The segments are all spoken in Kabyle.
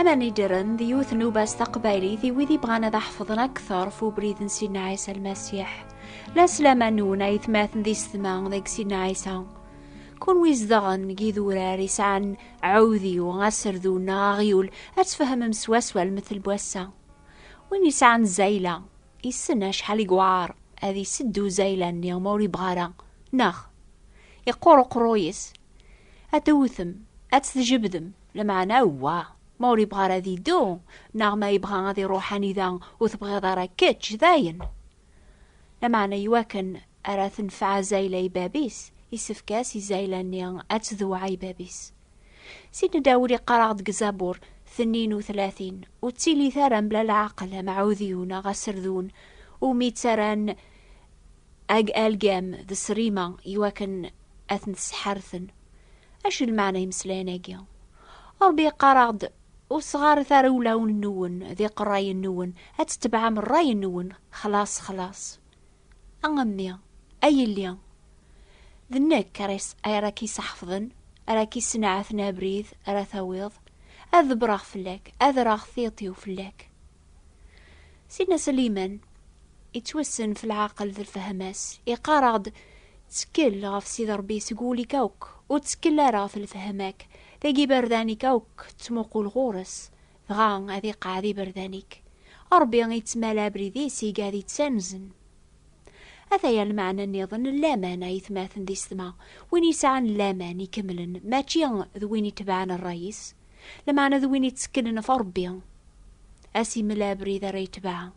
Amanidiren d yiwet n ubas taqbaylit i wid ibɣan ad aḥefḍen akteṛ f ubrid n Sidna Ɛisa Lmasiḥ. La slama nwen ay tmaten di setma deg Sidna Ɛisa. Kunwi zedɣen deg idurar i sɛan ɛudiw, aserdu neɣ aɣyul, ad tfehmem swaswa lmettel n wass-a. Win yesɛan zayla, yessen acḥal i yewɛaṛ ad iseddu zayla-nni ma ur yebɣi ara, neɣ? Iqquṛ uqeṛṛuy-is. Ad tewtem, ad tt-tjebdem. Lameɛna wa, ma ur yebɣa ara ad yeddu, neɣ ma yebɣa ad iruḥ anida ur tebɣiḍ ara kečč, dayen! Lameɛna iwakken ara tenfeɛ Zayla i bab-is, isefk-as i Zayla-nni ad tdewɛa i bab-is. Sidna Dawed iqqar-aɣ-d deg Zabur tnin u tlatin, Ur ttilit ara mebla leɛqel, a Maɛudiyu neɣ a Serdun, umi ttarran Ag algam d srima i wakken ad ten-sseḥarten. Acu i lmeɛna imeslayen-agi? Rebbi yeqqar-aɣ-d, Ur sɣaret ara ulawen-nwen d iqerrayen-nwen, ad tetebɛem rray-nwen, xlaṣ, xlaṣ. A mmi, a yelli, d nekk ara k-iseḥfḍen, ara k-issenɛaten abrid ara tawiḍ, ad ḍebbreɣ fell-ak, ad rreɣ tiṭ-iw fell-ak. Sina Sliman, yettwassen f lɛaqel d lfehma-s, iqqar-aɣ-d, Ttkel ɣef Sidi Ṛebbi seg wul-ik akk, ur ttkel ara ɣef lfehma-k, dagi iberdan-ik akk ttmuqul ɣur-s, dɣa ad iqeɛɛed iberdan-ik. Ṛebbi ittmala abrid-is i gad ittanzen. Ataya lmeɛna nniḍen n laman, ayetmaten d isetma, win yesɛan laman ikemlen, mačči d win itebɛen ṛṛay-is. Lameɛna d win ittekkelen ɣef Ṛebbi, ad s-imel abrid ara yetbeɛ.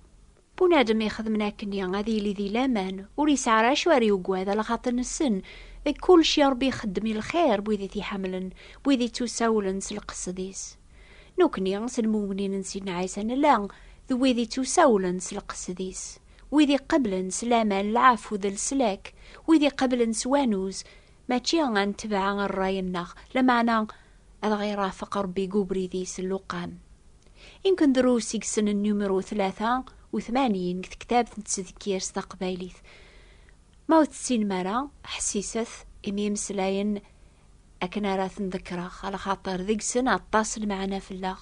Bunadem ixedmen akken-i ad yili di laman, ur yesɛi ara acu ara yugad, a lxaṭi nessen deg kulci Ṛebbi ixeddem i lxir n wid i t-iḥemmlen, n wid ittusawlen s lqesd-is. Nekkni, s lmumnin n Sidna Ɛisa, nella d wid ittusawlen s lqesd-is, wid iqebblen s laman lɛeffu d leslak, wid iqebblen s wanuz Mačči ad netbeɛ rray-nneɣ, lameɛna ad aɣ-irafeq Ṛebbi deg ubrid-is lluqam. Imken drus i yessnen numru tlata u tmanyin deg tektabt n tsedkirt taqbaylit. Ma ur tessinem ara, ḥessiset imi imeslayen akken ara ten-ḍekkreɣ, ala xaṭer deg-sen aṭas lmeɛna fell-aɣ.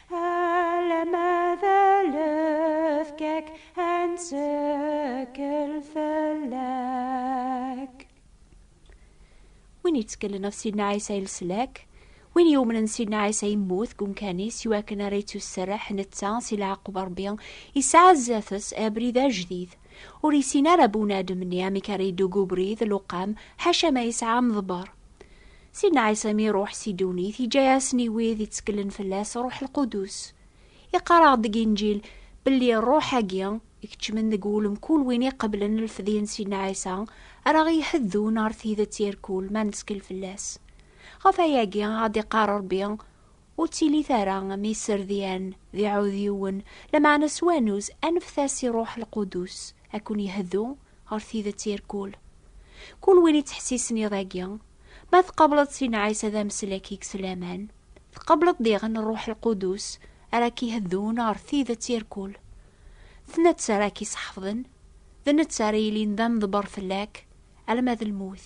win yettkellen ɣef Sidna Ɛisa yelslak win yumnen Sidna Ɛisa yemmut deg umkan-is i wakken ara yettusserreḥ netta si leɛqub Rebbi yesɛa zdat-s abrid ajdid ur yessin ara bunadem-nni amek ara yeddu deg ubrid luqam ḥaca ma yesɛa amḍebber Sidna Ɛisa mi iruḥ si ddunit, iǧǧa-yasen i wid itteklen fell-as Ṛuḥ Lqudus. Iqqar-aɣ-d deg Inǧil belli Ṛuḥ-agi ikeččmen deg wul mkul win iqeblen lfedya n Sidna Ɛisa ara ɣ-iheddun ɣer tidet irkul ma nettkel fell-as. Ɣef wayagi ad d-iqqar Ṛebbi, Ur ttili tara am iserdian d iɛudiwen, lameɛna s wanuz anfet-as i Rruḥ Lqudus a ken-yehdu ɣer tidet irkul. Kul win ittḥessisen iḍ-agi, ma tqableḍ s inɛas ad am-slek-ik s laman, tqableḍ diɣen Rruḥ Lqudus ara k-iheddun ɣer tidet irkul. D netta ara k-iseḥfḍen, d netta ara yilin d ameḍber fell-ak alma d lmut.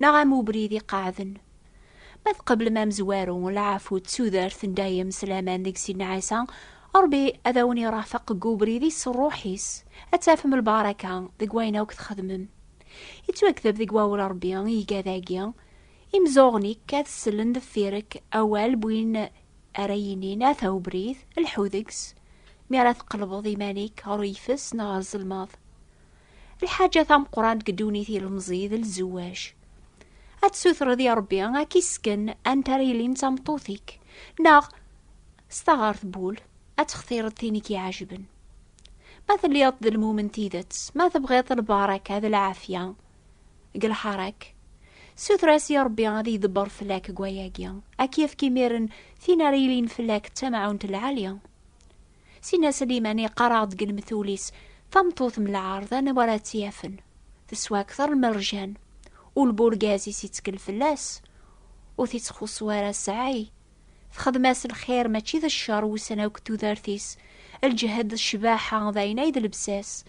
Neɣ am ubrid iqeɛɛden. Ma tqeblem amezwaru, lɛafu d tudert n dayem s laman deg Sidna Ɛisa, Ṛebbi ad awen-iṛafeq deg ubrid-is s Ṛṛuḥ-is, ad tafem lbaṛaka deg wayen akk txedmem. Ittwakdeb deg wawel n Ṛebbi iga dagi, Imzuɣen-ik ad sellen deffir-k awal n win ara yinin, Ata ubrid, lḥu deg-s, mi ara tqelbeḍ iman-ik ɣer uyeffes neɣ ɣer zelmaḍ. Lḥaǧa tameqqrant deg ddunit ilemẓi d lzewwaj. Ad tsutreḍ i Ṛebbi ad k-isken anta ara yilin d tameṭṭut-ik, neɣ s taɣart n wul ad textireḍ tin i k-iɛejben. Ma telliḍ d lmumen tidet, ma tebɣiḍ lbaraka d lɛafya deg lḥaṛa-k, suter-as i Ṛebbi ad ydebbṛ fell-ak deg wayagi, ad k-yefk imiren tin ara yilin fell-ak d tamɛawnt lɛali. Sina Slimani yeqqar-aɣ-d deg lemtul-is, Tameṭṭut n lɛerḍ anwa ara tt-yafen? Teswa akteṛ n merjan. Ul n urgaz-is yettkel fell-as, ur t-ittxuṣṣu ara ssɛay. Texdem-as lxir mačči d cceṛ wussan akk n tudert-is, lǧehd d ccbaḥa d ayen ay d lebsa-s.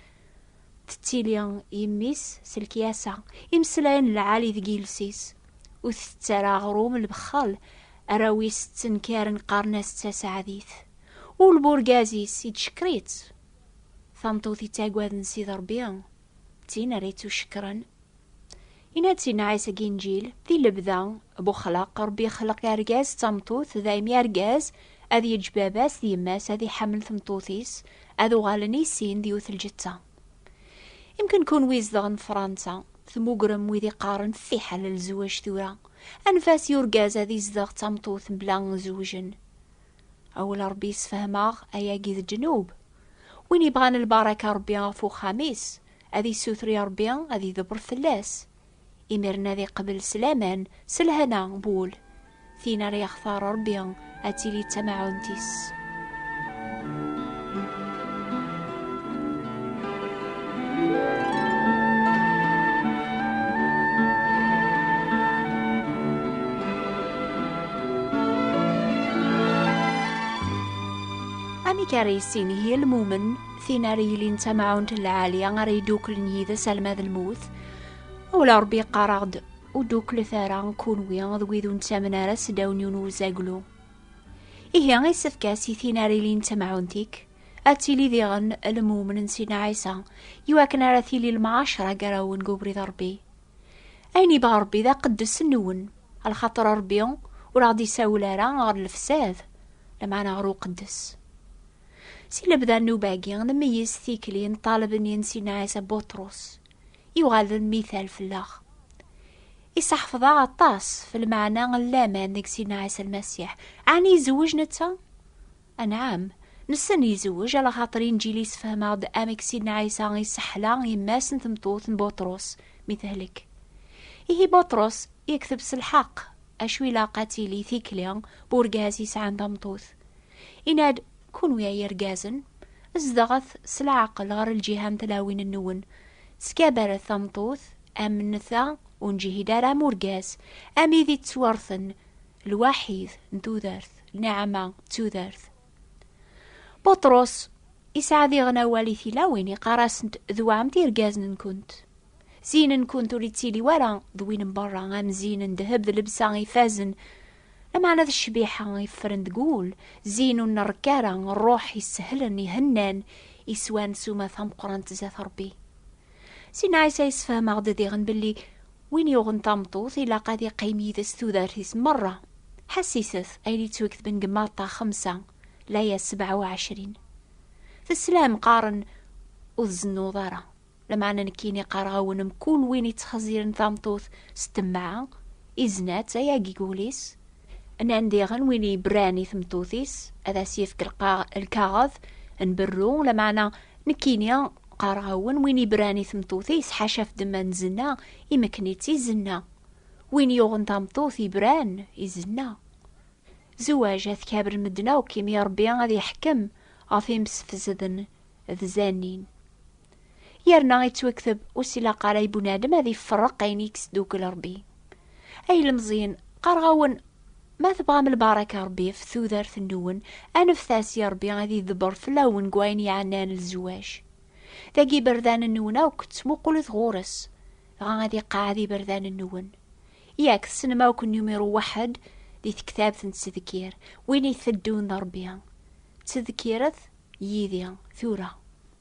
Tettili yemmi-s s lekyasa, imeslayen lɛali deg yiles-is. Ur t-tett ara aɣrum, lbexxel. Arraw-is ttenkaren qqaren-as d taseɛdit. Ul n urgaz-is ittcekker-itt. Tameṭṭut ittaggaden Sidi Ṛebbi, d tin ara ittucekkren. Yenna-d si Nɛisa deg Inǧil, di lebda n uxlaq, Ṛebbi ixleq argaz d tameṭṭut, daymi argaz ad yeǧǧ baba-s d yemma-s, ad iḥemmel tmeṭṭut-is, ad uɣalen i sin d yiwet lǧetta. Imken kunwi izedɣen Fṛansa, tmugrem wid iqqaren fiḥel lezwaǧ tura, anef-as i urgaz ad izdeɣ d tameṭṭut mebla zewjen. Awal Ṛebbi yessefhem-aɣ ayagi d ddnub. Win yebɣan lbaraka Ṛebbi ɣef uxxam-is, ad yessuter i Ṛebbi ad ydebbret fell-as. Imiren ad iqbel s laman, s lhena n wul. Tin ara yextar Ṛebbi ad tili d tamaɛunt-is. amek ara yissin yir lmumen tin ara yilin d tamɛunt n lɛali ara yeddukklen yid-s alma d lmut wala rebbi yeqqar-aɣ-d ur ddukklet ara kunwi d wid ur nettamen ara s ddaw n yiwen uzaglu Ihi isefk-as i tin ara ilin d tamɛunt-ik ad tili diɣen lmumn n Sidna Ɛisa iwakken ara tili lmɛacra gar-awen deg ubrid n Rebbi. Ayen yebɣa Rebbi d aqeddes nwen, lxaṭer Rebbi ur aɣ-d-isawel ara ɣer lefsad, lameɛna ɣer uqeddes. Si lebda n nnuba-agi, nmeyyez tikli n ṭṭaleb-nni n Sidna Ɛisa Buṭrus, yuɣal d lmital fell-aɣ. Iseḥfeḍ-aɣ aṭas f lmeɛna n laman deg Sidna Ɛisa Lmasiḥ. Ɛni izewweǧ netta? Anɛam. Nessen izewweǧ, ala xaṭer Inǧil yessefhem-aɣ-d amek Sidna Ɛisa iseḥla yemma-s n tmeṭṭut n Buṭrus mi tehlek. Ihi Buṭrus yekteb s lḥeqq, acu ilaq ad tili tikli n urgaz yesɛan tameṭṭut. Yenna-d, Kunwi ay irgazen, zedɣet s leɛqel ɣer lǧiha n tlawin-nwen, ttgabaret tameṭṭut am netta ur neǧhid ara am urgaz, am id ittwarten lwaḥid n tudert, lniɛama d tudert. Buṭrus isɛa diɣen awal i tilawin, iqqar-asent d waɛmt irgazen-nkent. Zzin-nkent ur ittili wara d win n berra, am zzin n ddheb d lebsa ifazen, lameɛna d ccbiḥa iffren deg wul, zzin ur nrekk ara, ṛṛuḥ isehlen, ihennan, iswan s umata meqqrant zdat Ṛebbi. Si Nɛisa yessefhem-aɣ-d diɣen belli win yuɣen tameṭṭut ilaq ad iqqim yid-s tudert-is merra. Ḥassiset ayen yettweketben deg Maṭṭa xemsa, laya sebɛa u ɛecrin. Teslam, qqaren, Ur tzennuḍ ara. Lameɛna nekkini qqareɣ-awen mkul win yettxezziren tameṭṭut s ttemɛa, izna-tt, ay agig ul-is. Nnan diɣen win yebran i tmeṭṭut-is, ad as-yefk lkaɣeḍ n berru, lameɛna Nekkini, qqareɣ-awen, win ibran i tmeṭṭut-is, ḥaca ɣef ddemma n zzna, imekken-itt i zzna. Win yuɣen tameṭṭut, ibran i zzna. Zewaj, ad t-kabren medden akk, imi Rebbi ad iḥekkem ɣef imsefsden d zannin. Yerna ittwekteb, ur s-ilaq ara i bunadem ad iferreq ayen i yesdukkel Rebbi. Ay ilemẓiyen, qqareɣ-awen, Ma tebɣam lbaraka Ṛebbi ɣef tudert-nwen, aneft-as i Ṛebbi ad iḍebber fell-awen deg wayen yeɛnan lezwaǧ. Dagi iberdan-nwen akk ttmuqulet ɣur-s, dɣa ad iqeɛɛed iberdan-nwen. Yak tessnem akk numiru waḥed di tektabt n ttedkir, win iteddun d Ṛebbi. Ttedkiret yid-i tura.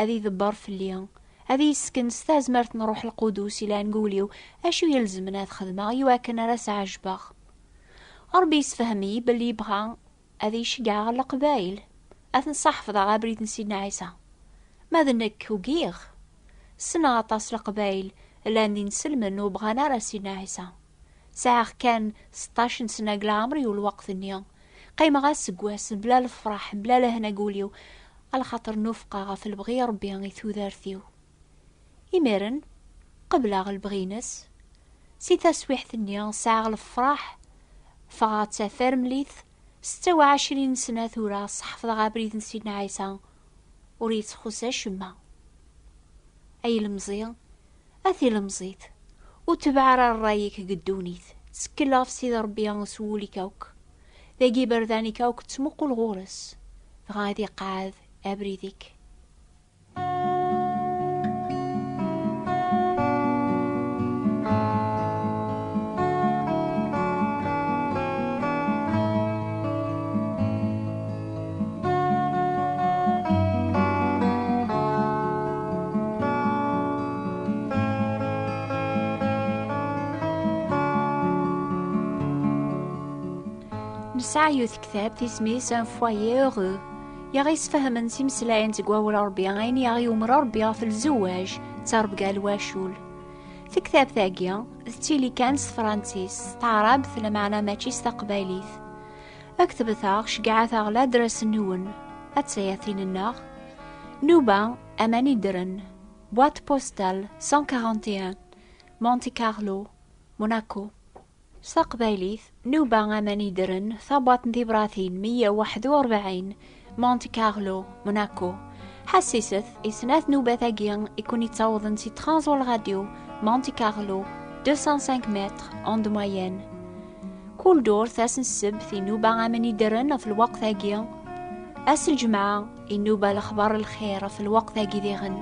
Ad idebber fell-i, ad iyi-ssken s tazmert n Ṛṛuḥ Lqudus yelhan deg wul-iw acu ilezmen ad xedmeɣ i wakken ara s-ɛejbeɣ. Ṛebbi yessefhem-iyi belli yebɣa ad iyi-ceggɛeɣ ɣer Leqbayel, ad ten-sɛeḥfḍeɣ abrid n Sidna Ɛisa. Ma d nekk, ugiɣ. Ssneɣ aṭas Leqbayel llan d inselmen ur bɣan ara Sidna Ɛisa. Sɛiɣ kan seṭṭac n sna deg leɛmer-iw lweqt-nni. Qqimeɣ aseggas mebla lefraḥ, mebla lehna deg wul-iw, alxaṭer nufqeɣ ɣef lebɣi n Rebbi i tudert-iw. Imiren, qebleɣ lebɣi-ines. Si taswiḥt-nni, sɛiɣ lefraḥ. Ffɣeɣ d tafermlit, setta u ɛecrin sna tura, sḥefḍeɣ abrid n Sidna Ɛisa. Ur yi-tt-txuṣṣ acemma. A ilemẓi, A tilemẓit, ur tebɛa ara rray-ik deg ddunit, ttekkel ɣef Sidi Rebbi s wul-ik akk, dagi iberdan-ik akk ttmuqul ɣur-s, dɣa ad iqeɛɛed abrid-ik. Nesɛa yiwet tektabt isem-is Un foyer heureux. I aɣ-yesfehmen s imeslayen seg wawal Rebbi ayen i aɣ-yumer Rebbi ɣef lzewwaj d tarebga n wacul. Tektabt-agi d tili kan s tefransist, s taɛrabt lameɛna mačči s taqbaylit. Ad k-tebteɣ, ceggɛet-aɣ ladras-nwen. Ad tsayatin-nneɣ. Nuba, aman iddren. Boîte postale 141, Monte Carlo, Monaco. S taqbaylit, Nuba, aman iddren, tabwaḍt n tibratin 141, Monte Carlo, Monaco. Ḥassiset i snat nubat-agi i ken-ittawḍen si Transol Radio, Monte Carlo, 205 mètres, onde moyenne. Kul durt ass n ssebt inuba aman iddren ɣef lweqt-agi. Ass n lǧemɛa inuba lexbar n lxir ɣef lweqt-agi diɣen.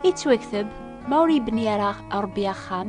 Ittwakteb ma ur yebni ara Ṛebbi axxam,